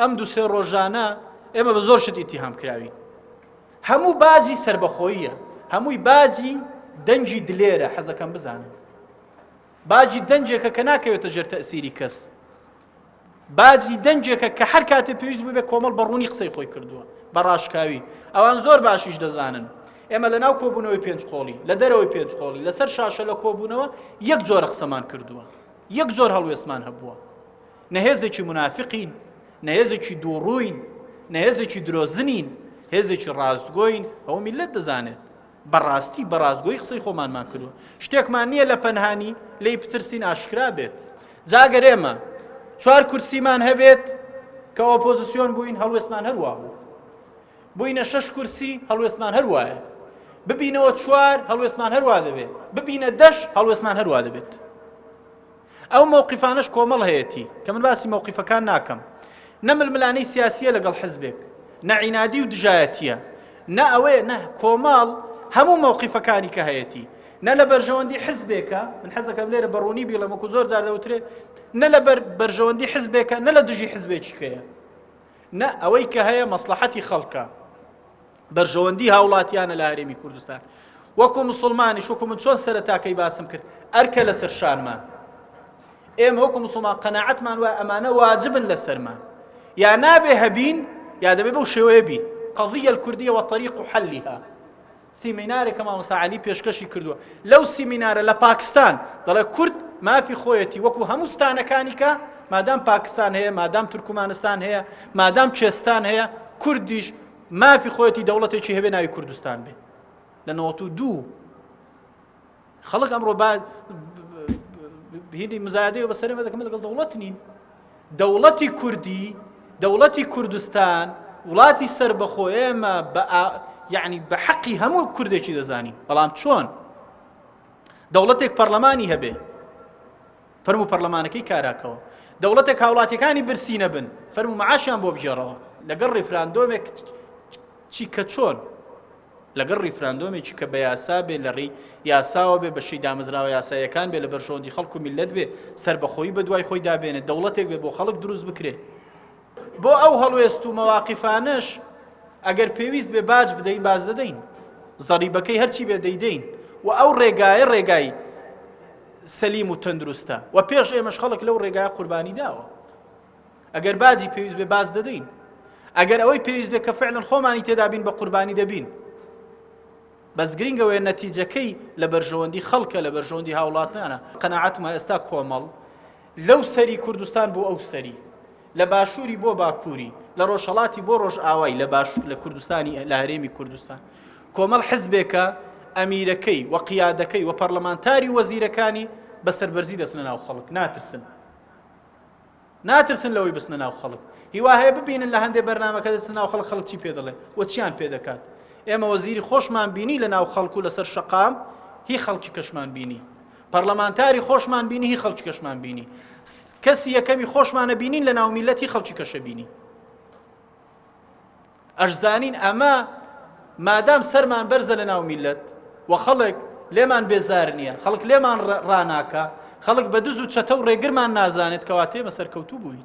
ئەم دو سێ ڕۆژانە ئێمە بە زۆر شت ئیتیهام کراوین هەموو باجی سربەخۆییە هەمووی باجی دەنجی دلێرە حەزەکەم بزانم باجی دەنجێکە کە ناکەوێتە ژێر تەسیری کەس باجی دەنجێکە کە هەر کاتێ پێویست بوو بێ کۆمەڵ بەڕوونی قسەی خۆی کردووە بە ڕاشکاوی ئەوان زۆر باشیش دەزانن ئێمە لە ناو کۆبوونەوەی پێنج قۆڵی لە دەرەوەی پێنج قۆڵی لەسەر شاشە لە کۆبوونەوە یەک جۆرە قسەمان کردووە یەک جۆر هەڵوێستمان هەبووە نە هێزێکی منافقین نە هێزێکی دووڕووین نە هێزێکی درۆزنین هێزێکی ڕاستگۆین ئەو میلەت دەزانێت بەڕاستی بەڕاستگۆی قسەی خۆمانمان کردووە شتێکمان نییە لە پەنهانی لی پترسین ئاشکرا بێت جاگەر ئێمە چوار کورسیمان هەبێت کە ئۆپۆزیسیۆن بووین هەڵوێستمان هەروە بوو بووینە شەش کورسی هەڵوێستمان هەروایە ببینەوە چوار هەڵوێستمان هەروە دەبێت ببینە دەش هەڵوێستمان هەروە دەبێت ئەو مەوقیفانەش کۆمەڵ هەیەتی کە من باسی مەوقیفەکان ناکەم نە ململانەی سیاسیە لەگەڵ حزبێک نە عینادی و دژایەتیە نە ئەوەیە نە کۆمەڵ هەموو مەوقیفەکانی کە هەیەتی نە لە بەرژەوەندی حزبێکە من حەزەکەم لێرە بەڕوونی بیڵەمەکو زۆر جار دەوترێ نە لە بەرژەوەندی حزبێکە نە لە دژی حزبێکیکەیە نە ئەوەی کە هەیە مەسلحەتی خەڵکە بەرژەوەندی هاوڵاتیانە لە هەرێمی کوردستان وەکو مسلمانیش وەکو من چۆن سەرتاکەی باسم کرد ئەرکە لەسەر شانمان ئێمە وەکو مسلمان قەنەعەتمان وە ئەمانە واجبن لەسەرمان یا نابێ هەبین یا دەبێ بەو شێوەیە بین قضیە کوردیە وە طریق و حەلیها سیمینارێکە مامۆساعالی پێشکەشی کردووە لەو سیمینارە لە پاکستان دەڵێ کورد مافی خۆیەتی وەکو هەموو ستانەکانی کە مادام پاکستان هەیە مادام تورکمانستان هەیە مادام چێستان هەیە کوردیش مافی خۆیەتی دەوڵەتێکی هەبێ ناوی کوردستان بێ لە نەوەت و دوو خەڵک ئەمڕۆ هیدی مزایدەی بەسەرمە دەکەم لەگەڵ دەوڵەت نین دەوڵەتی کوردی دەوڵەتی کوردستان وڵاتی سەر بەخۆ ئێمە بە یعنی بە حەقی هەموو کوردێکی دەزانین بەڵام چۆن دەوڵەتێک پەرلەمانی هەبێ فەرموو پەرلەمانەکەی کاراکەوە دەوڵەتێک هاوڵاتیەکانی برسی نەبن فەرموو معاشیان بۆ بگێڕەوە لەگەڵ ڕیفراندۆمێک چی کە چۆن لەگەڵ ڕیفراندۆمێکی کە بە یاسا بێ لە ڕێی یاساوە بێ بەشی دامەزراوە یاسایەکان بێ لە بەرژەوەندی خەڵکو میلت بێ سربەخۆی بە دوای خۆی دابێنێ دەوڵەتێک بێ بۆ خەڵک دروست بکرێ بۆ ئەو هەڵوێست و مەواقفانەش ئەگەر پێویست بێ باج بدەین باز دەدەین زەریبەکەی هەرچی بێ دەیدەین و ئەو ڕێگایە ڕێگای سەلیم و تەندروستە و پێش ئێمەش خەڵک لەو ڕێگای قوربانی داوە ئەگەر باجی پێویست بێ باز دەدەین ئەگەر ئەوەی پێویست بێ کە فعلن خۆمانی تێدابین بە قوربانی دەبین بەس گرنگەوەی نەتیجەکەی لە بەرژەوەندی خەڵکە لە بەرژەوەندی هاوڵاتانە قەنەعاتمە ئێستا کۆمەڵ لەو سەری کوردستان بۆ ئەو سەری، لە باشووری بۆ باکووری، لە ڕۆژهەڵاتی بۆ ڕۆژئاوای لە باش لە کوردستانی لە هەرێمی کوردستان کۆمەڵ حزبێکە ئەمیرەکەی و قیادەکەی و پەرلەمانتاری وەزیرەکانی بە سەربەرزی دەچنە ناو خەڵک ناترسن ناترسن لەوەی بستنە ناو خەڵک هیوا هەیە ببینن لە هەندێک بەرنمەکە دەستە ناو خەڵک خەڵکی پێ دەڵێ و چیان پێ دەکات ئێمە وەزیری خۆشمان بینی لە ناو خەڵکو لەسەر شقام هی خەڵکی کەشمان بینی پەرلەمانتاری خۆشمان بینی هی خەڵکی کەشمان بینی کەسی یەکەمی خۆشمانە بینین لە ناومیلەتی خەڵکی کەشە بینی ئەشزانین ئەمە مادام سەرمان بەرزە لە ناو میلەت و خەڵک لێمان بێزار نییە خەڵک لێمان ڕناکە خەڵک بە دز و چەتە و ڕێگرمان نازانێت کەواتێمە سەرکەوتوو بووین